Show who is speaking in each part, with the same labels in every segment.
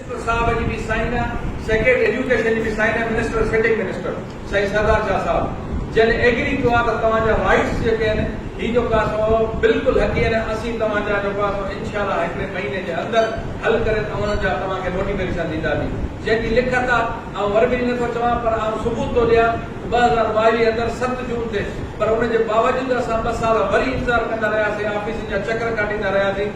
Speaker 1: Minister sahib جي به سائين آ سيڪريٽري ايجوڪيشن جي به سائين آ منسٽر سٽنگ منسٽر سائين سردار شاھ صاحب جن ايگري ڪيو آ ته توهان جا رائيٽس جيڪي آهن هي جو ڪا سو بلڪل حقي آهن اسين توهان جا جو ڪا سو انشاء الله هڪڙي مهيني جي اندر حل ڪري اوهان جا توهان کي نوٽيفڪيشن ڏيندا سين جنهن جي لکت آ آئون ور به نه ٿو چوان پر آئون ثبوت ٿو ڏيان ته ٻه هزار ٻاويهه اندر ست جون تي پر ان جي باوجود اسان ٻه سال وري انتظار ڪندا رهيا سين آفيسن جا چڪر ڪاٽيندا رهيا سين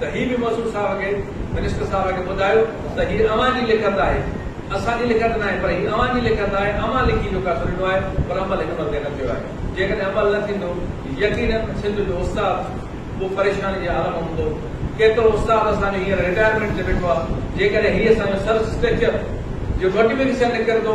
Speaker 1: ته هي به موصوف صاحب کي، منسٽر صاحب کي ٻڌايو ته هي اوهان جي لکت آهي، اسان جي لکت ناهي، پر هي اوهان جي لکت آهي، اوهان لکي جو فيصلو ڏنو آهي، پر عمل هن ملڪ ۾ نه ٿيو آهي. جيڪڏهن عمل نه ٿيندو، يقيناً سنڌ جو استاد به پريشاني جي عالم ۾ هوندو. ڪيترو استاد اسان جو هينئر رٽائرمينٽ تي ويٺو آهي، جيڪڏهن هي اسان جو سرسٽرڪچر جي موٽيويڪشن نه ڪندو،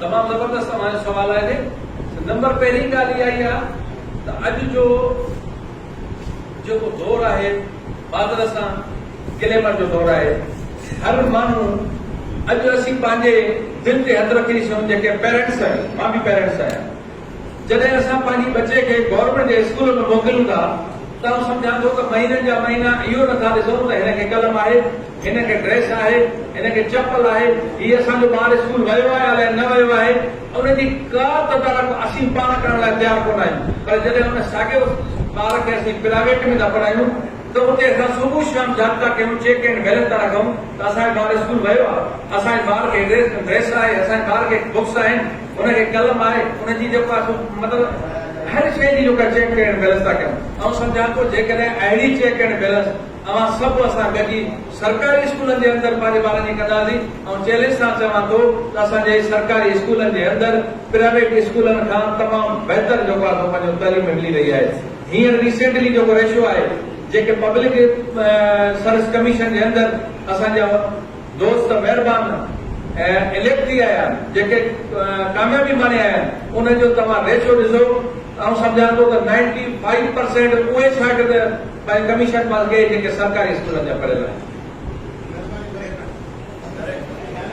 Speaker 1: تمام زبردست اوهان جو سوال آهي نمبر پهرين ڳالهه اها ئي آ ته اڄ جو جيڪو دور آهي بادل سان گليمر جو دور آهي هر ماڻهو اڄ اسين پنهنجي دل تي هٿ رکي ڏسيون جيڪي پيرنٽس آهيون مان به پيرنٽس آهيان جڏهن اسان پنهنجي ٻچي کي گورنمينٽ جي اسڪول ۾ موڪليون ٿا ته آئون سمجهان ٿو ته مهينن جا مهينا اهو نٿا ڏسون ته هن کي قلم آهي، هن کي ڊريس آهي، هن کي چپل آهي، هي اسان جو ٻار اسڪول ويو آهي الائي نه ويو آهي، ان جي ڪا تدارڪ اسين پاڻ ڪرڻ لاء تيار ڪونه آهيون پر جڏهن ان ساڳئي ٻار کي اسين پرائيويٽ ۾ ٿا پڙهايون ته اتي اسان صبح شام جابطا ڪيون، چيڪ اينڊ بيلنس ٿا رکون ته اسان جو ٻار اسڪول ويو آهي، اسان جي ٻار کي ڊريس آهي، اسان جي ٻار کي بڪس آهن. هن کي قلم آهي ان جي جيڪو آهي سو مطلب هر شيء جي جيڪا چيڪ ڪليئر بيلنس ٿا ڪيون آئون سمجهان ٿو جيڪڏهن اهڙي چيڪ ڪليئر بيلنس اوهان سڀ اسان گڏجي سرڪاري اسڪولن جي اندر پنهنجي ٻارن جي ڪنداسين آئون چيلينج سان چوان ٿو ته اسان جي سرڪاري اسڪولن جي اندر پرائيويٽ اسڪولن کان تمام بهتر جيڪو آهي سو پنهنجو تعليم ملي رهي آهي هينئر ريسينٽلي جيڪو ريشو آهي جيڪي پبلڪ سروس ڪميشن جي اندر اسان جا دوست مهربان اليڪٽري آهيان جيڪي ڪاميابي ماڻي آهيان ان جو توهان ريشو ڏسو آئون سمجهان ٿو ته نائنٽي فائيو پرسينٽ اهي شاگرد پنهنجي ڪميشن پاس ڪئي جيڪي سرڪاري اسڪولن جا پڙهيل آهن.